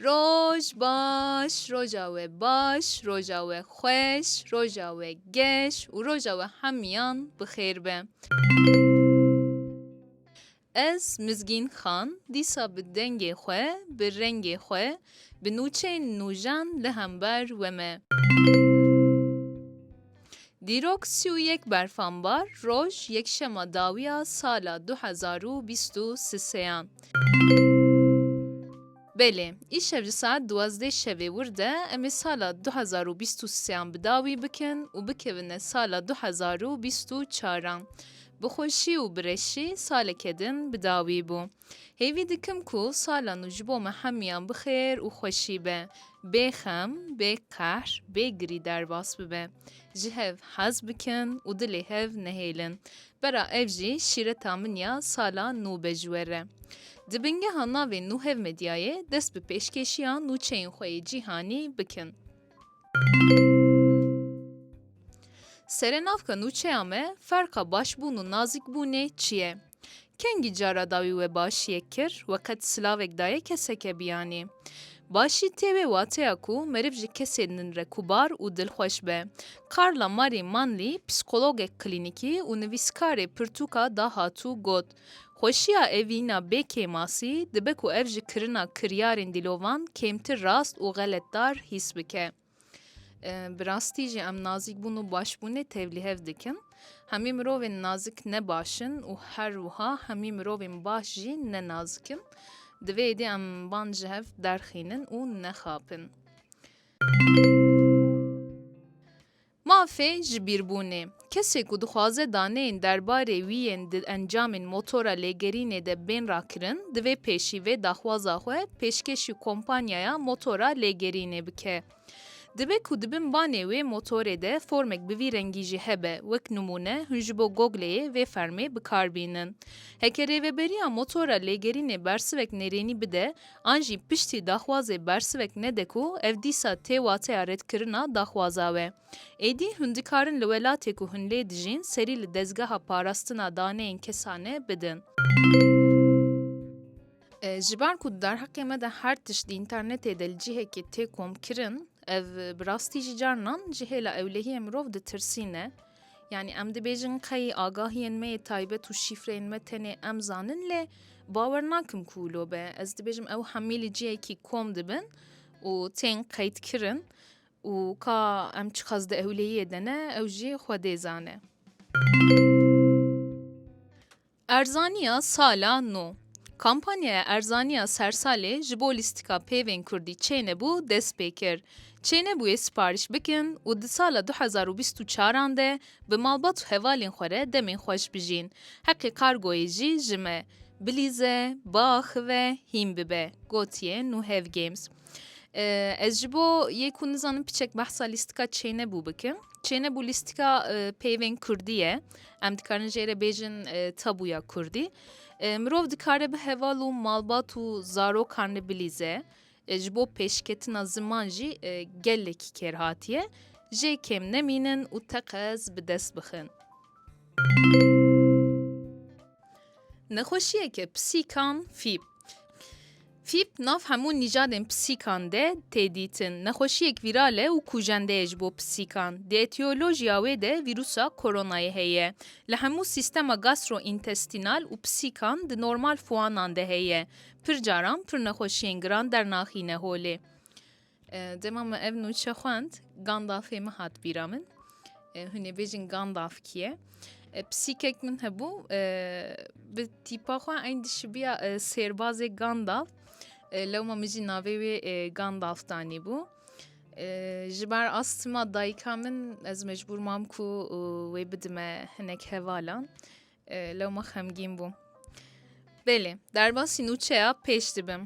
Roj baş, roja we baş, roja we xweş, roja we geş û roja we hemiyan bi xêr be. Ez Mizgîn Xan dîsa bi dengê xwe, bi rengê xwe, bi nûçeyên nûjan li hember we me. Dîrok sî û yek berfambar roj yekşema dawiya sala du hezar û bîst û siseyan. Belê, îşev ji saet duwazdeh şevê wir de em ê sala du hezar û bîst û sê an bi dawî bikin û bikevine sala du hezar û bîst û çar an. Bi xweşî û bi reşî saleke din bi dawî bû. Hêvî dikim ku sala nû ji bo me hemiyan bi xêr û xweşî be, bê xem, bê qehr, bê girî derbas bibe. Ji hev hez bikin û dilê hev nehêlin. Vera ev jî şîreta min ya sala nû be ji we re. Di bingeha navê nû hevmedyayê dest bi pêşkêşiya nûçeyên xwe yê cîhanî bikin. Serenavka nûçeya me ferqa başbûn û nazikbûnê çi ye? Kengî cara dawî we başiyek kir we qet silavek daye keseke biyanî? Başî tê wê wateya ku meriv ji kesên din re kubar û dilxweş be. Carla Marie Manley psîkologek klînîkî û nivîskarê pirtûka dahatû got, Xweşiya evîna bê kêmasî dibe ku ev ji kirina kiryarên dîlovan kêmtir rast û xeletdar hîs bike. Bi rastî jî em nazîkbûn û başbûnê tevlî hev dikin. Hemî mirovên nazik ne baş in û her wiha hemî mirovên baş jî ne nazik in. Di vê êdî em van ji hev derxînin û nexapin. Mafê ji bîrbûnê, kesê ku dixwaze daneyên derbarê wî yên di encamên motora lêgerînê de bên rakirin, divê pêşî vê daxwaza xwe pêşkêşî kompanyaya motora lêgerînê bike. Dibe ku di bin banê wê motorê de formek bi vî rengî jî hebe, wek nimûne hûn ji bo Gogleyê vê fermê bi kar bînin. Heke rêveberiya motora lêgerînê bersivek nêrênî bide, An jî piştî daxwazê bersivek nede ku ev dîsa tê wateya redkirina daxwaza we. Êdî hûn dikarin li welatê ku hûn lê dijîn serî li dezgeha parastina daneyên kesane bidin. Ji ber ku di derheqê me de her tişt di înternetê de li cihekê tê komkirin, ev bi rastî jî carinan ji hêla ewlehiyê mirov ditirsîne. Yanî em dibêjin qeyî agahiyên me yê taybet û şîfreyên me tenê em zanin lê bawer nakim ku wilo be. Ez dibêjim ew hemî li cihekî kom dibin û tên qeydkirin û ka em çiqas di ewleyiyê de ne ew jî xwe dê zane. Erzaniya sala nû. Kampanyaya erzaniya sersalê ji bo lîstika peyvên kurdî çênebû dest pê kir. Çênebûyê siparîş bikin û di sala du hezar û bîst û çar an de bi malbat û hevalên xwe re demên xweş bijîn. Heqê kargoyê jî ji me, Bilîze, Baaxive, hîn bibe, gotiye Nû Hevgames. Ez ji bo yê ku nizanim piçek behsa lîstika çênebû bikim. Çênebû lîstika peyvên Kurdî ye. Em dikarin jê re bêjin tabûya Kurdî. Mirov dikare bi heval û malbat û zarokan li bilîze. Ji bo pêşketina ziman jî gelekî kêr hatiye. Jê kêm nemînin û teqez bi dest bixin. Nexweşiyeke pisîkan fîb. Fîb nav hemû nîjadên pisîkan de tê dîtin. Nexweşiyek vîral e û kûjende ye ji bo pisîkan. Di etiyolojiya wê de vîrûsa koronayê heye. Li hemû sîstema gastrointestinal û pisîkan di normal fûanan de heye. Pir caran pir nexweşiyên giran dernaxîne holê. Dema me ev nûçe xwend Gandalfê min hat bîra min. Hûn ê bêjin Gandalf kî ye? Pisîkek min hebû bi tîpa xwe eyn dişibiya sêrbazê Gandalf. Lewma min jî navê wê Gandalf danî bû. Ji ber astima dayika min ez mecbûr mam ku wê bidime hinek hevalan. Lewma xemgîn bûm. Belê, derbasî nûçeya pêş dibim.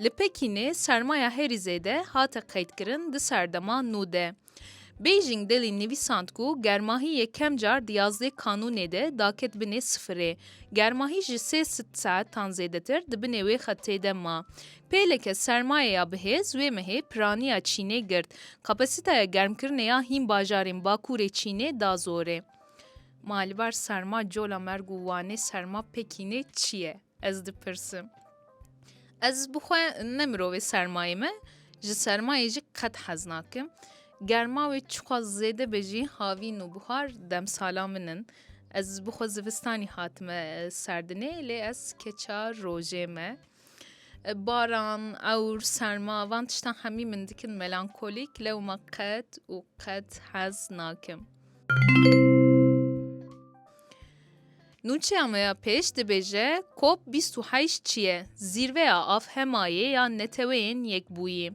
Li Pekînê sermaya herî zêde hate qeydkirin di serdema nû de. Beijing delî nivîsand ku germahî yê kemcar di yazdê kanûnê de daket binê sifirê. Germahî ji sê saetan zêdetir di binê wê xetê de ma. Pêleke sermaye ya bihêz wê mehê piraniya Çînê girt. Kapasîteya germkirinê ya hîn bajarên Bakurê Çînê da zorê. Ma li bar serma cola merg û wanê serma Pekînê çi ye? Ez dipirsim. Ez bi xwe ne mirovê sermayê me, ji sermayê jî qet hez nakim. Germa wê çiqas zêde be jî havîn û buhar demsala min in. Ez bi xwe zivistanî hatime serdinê lê ez keça rojê me. Baran, ewr, serma van tiştan hemî min dikin melankolîk lewma qet û qet hez nakim. Nûçeya me ya pêş dibêje kop 28 çiye zîrveya afhemayê ya neteweyên yekbûyî.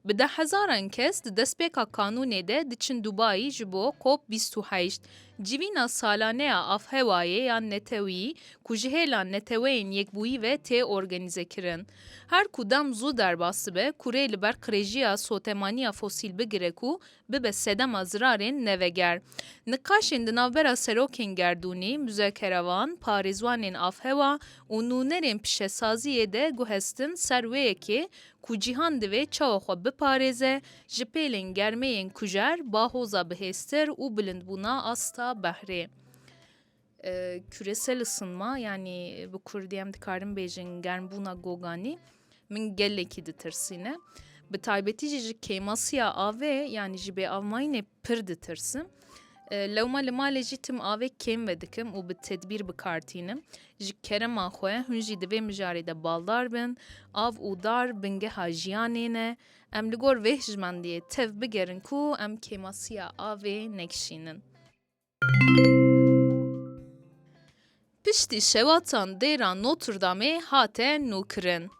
Bi dehhezaran kes di destpêka kanûnê de diçin Dubayî ji bo cop bîst û heşt, civîna salaneya avhewayê yan netewî ku ji hêla neteweyên yekbûyî ve tê organîzekirin. Her ku dem zû derbas dibe, kurê li ber qirêjiya sotemaniya fosîl bigire ku bibe sedema zirarên neveger. Niqaşên di navbera serokên gerdûnî, muzekerevan, parêzwanên avhewa û nûnerên pişesaziyê de guhestin ser wê yekê Ku cîhan divê çawa xwe biparêze ji pêlên germeyên kujer, bahoza bihêztir û bilindbûna asta behrê küresel ısınma yanî bi kurdî em dikarin bêjin germbûna goganî min gelekî ditirsîne. Bi taybetî jî ji kêmasiya avê yanî ji bêavmayînê pir ditirsim. Lewma li malê jî tim avê kêm vedikim û bi tedbîr bi kar tînim. Ji kerema xwe hûn jî di vê mijarê de baldar bin. Av û dar bingeha jiyanê ne. Em li gor vê hijmendiyê tev bigerin ku em kêmasiya avê nekişînin. Piştî şewatan dêra Notre Damê hate nûkirin.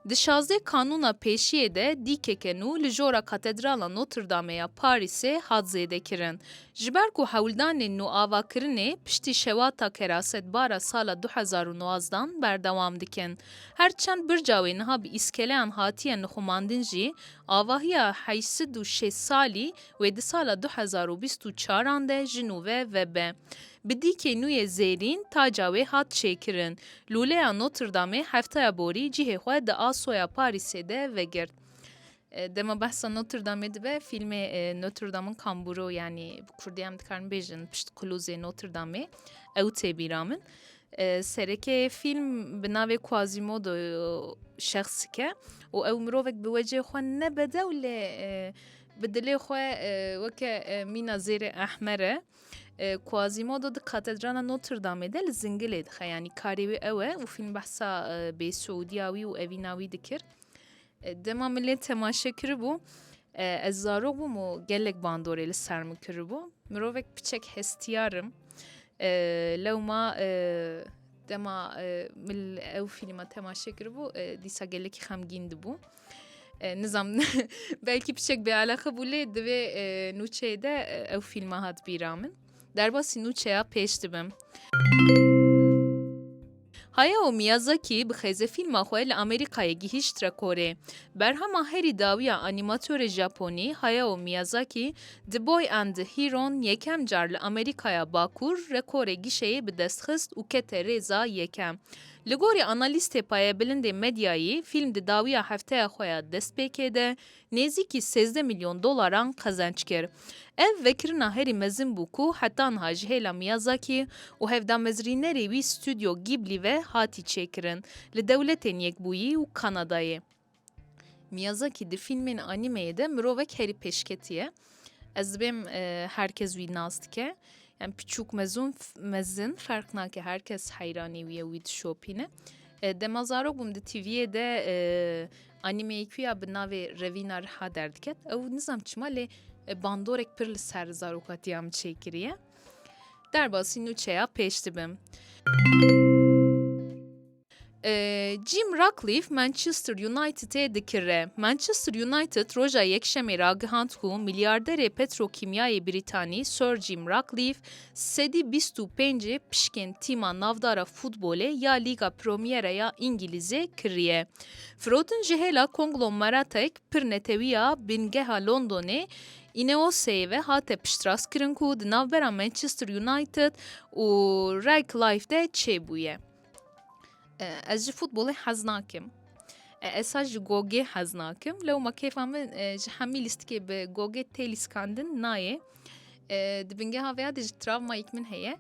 Di şazdeh kanûna pêşiyê de dîkeke nû li jora Katedrala Notre Damê ya Parîsê hat zêdekirin. Ji ber ku hewldanên nûavakirinê piştî şewata kerasetbara sala du hezar û nozdan berdewam dikin. Her çend birca wê niha bi îskeleyan hatiye nixumandin jî, avahiya heşt sed û şêst salî Wê di sala du hezar û bîst û çaran de ji nû ve vebe. Bi dîkê nû yê zêrîn taca wê hat çêkirin. Lûleya Notre Dameê heftaya borî cihê xwe di asoya Parîsê de vegirt. Dema behsa Notre Dameê dibe fîlmê Notre Dame'in kambûro yanî bi kurdî em dikarin bêjin pişt qilûzê Notre Dameê ew tê bîra min. Serekê fîlm bi navê Quasimodo şexsike û ew mirovek bi wecê xwe nebede û lê Bi dilê xwe weke mîna zêrê ehmer e. Quasimodo di katedrana Notre Dameê de li zingilê dixe yanî karê wê ew e û fîlm behsa bê Suudiya wî û evîna wî dikir. Dema min lê temaşe kiribû ez zarok bûm û gelek bandorê li ser min kiribû. Mirovek piçek hestiyarim. Lewma dema min ew fîlma temaşe kiribû dîsa gelekî xemgîn dibû. Nizam belkî pişek bêelexe bû lê divê nûçeyê de ew fîlma hat bîra min. Derbasî nûçeya pêş dibim. Haya û Miyazaki bi xêze fîlma xwe li Amerîkayê gihîşt rekorê. Berhema herî dawiya anîmatorê Japonî Hayao Miyazaki The Boy and the Heron yekem car li Amerîkaya Bakur rekorê gişeyê bi dest xist û kete rêza yekem. Li gorî analîstê payebilindê medyayî, fîlm di dawiya hefteya xwe ya destpêkê de nêzîkî sêzdeh milyon dolaran qezenç kir. Ev vekirina herî mezin bû ku heta niha ji hêla Miyazaki û hevdamezrînerê wî Stûdyo Gîblî ve hatî çêkirin li Dewletên Yekbûyî û Kanadayê. Miyazaki di fîlmên anîmeyê de mirovek herî pêşketî ye. Ez dibêm e, her kes wî nas dike. Yani piçûk mezun mezin ferq nake her kes heyranî wî ye wî dişopîne. E, dema zarok bûm di TV'yê de e, anîmeyekî ya bi navê Revîna Riha derdiket. Ew nizam çima lê e, bandorek pir li ser zarokatiya min çêkiriye. Derbasî nûçeya pêş dibim. Jim Ratcliffe Manchester Unitedê dikire. Manchester United roja Yekşemê ragihand ku milyarderê petrokîmyayê Brîtanî Sir Jim Ratcliffe sedî bîst û pênc pişkên tîma navdara futbolê ya Lîga Promyera ya Îngîlîzê kiriye. Firotin ji hêla konglomeratek pir netewî ya bingeha Londonê Ineosê ve hate piştrastkirin ku di navbera Manchester United û Ratcliffe de çêbûye. Ez ji futbolê hez nakim. Ez sa ji gogê hez nakim lew ma kêfa min ji hemî lîstikê bi gogê tê lîskandin nayê. Di bingeha vêya de ji travmayek min heye.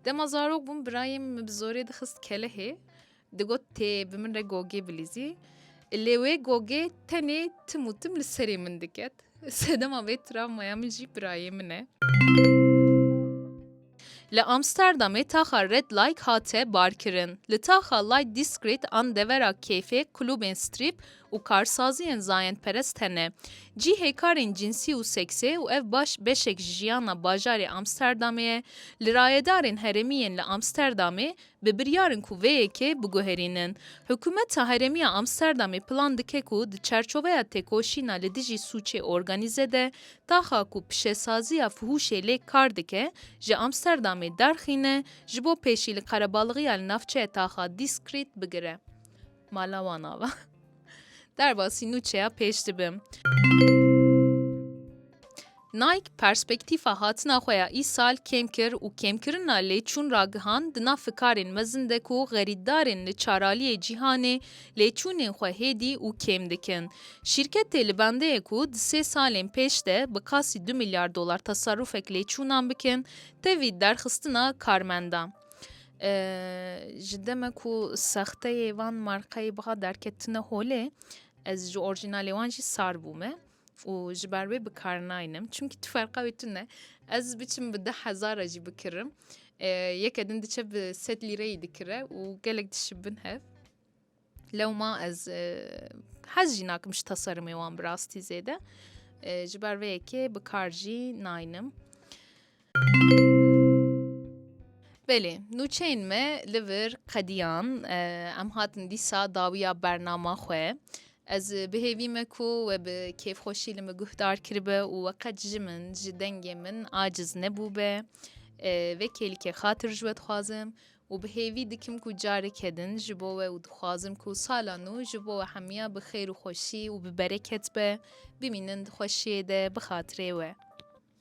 Dema zarok bûm birayê min bi zorê dixist kelehê digot tê bi min re gogê bilîzî. Lê wê gogê tenê tim û tim li serê min diket. Sedema vê travmaya min jî birayê min e. Li Amsterdamê taxa Red Like hate barkirin. Li taxa Light Discreet an devera keyfê klûbên strîp û karsaziyên zayendperest hene. Cîhê karên cînsî û seksê û ev baş beşek ji jiyana bajarê Amsterdamê ye. Li rayedarên herêmî yên li Amsterdamê bi biryar in ku vê yekê biguherînin. Hikûmeta herêmî ya Amsterdamê plan dike ku di çerçoveya têkoşîna li dijî sûcê organîze de Taxa ku pişesaziya Fuhuşê lê kar dike, ji Amsterdamê derxîne ji bo pêşî li qerebalixîya li navçeya Taxa Diskrit bigire. Mala wan ava. Derbasî nûçeya pêş dibim. Nike perspektîfa hatina xwe ya îsal kêm kir û kêmkirina lêçûn ragihand di nav fikarên mezin de ku xerîtdarên li çaraliyê cîhanê lê çûnên xwe hêdî û kêm dikin. Şîrketê li bendeyê ku di sê salên pêş de bi kasî du milyar dolar teserûfek lê çûnan bikin, tevî derxistina karmendan. Ji deme ku sexteyê van markayê biha derketine holê, ez ji orjînalê wan jî sar bûme. û ji ber wê bi kar naynim. Çimkî tu ferqa wê tune. Ez biçim bi deh hezar re jî bikirim. Yeke din diçe bi sed lîreyî dikire û gelek dişî bin hev. Lewma ez hez jî nakim ji teserimê wan bi rastî zêde. Ji ber vê yekê bi kar jî naynim. Belê nûçeyên me li vir qediyan em hatin dîsa dawiya bernama xwe. Ez bi hêvî me ku we bi kêfxweşî li min guhdar kiribe û we qet ji min ji dengê min aciz nebûbe. Vê kêlikê xatir ji we dixwazim û bi hêvî dikim ku careke din ji bo we û dixwazim ku sala nû ji bo we hemiya bi xêr û xweşî û bi bereket be. Bimînin di xweşiyê de bi xatirê we.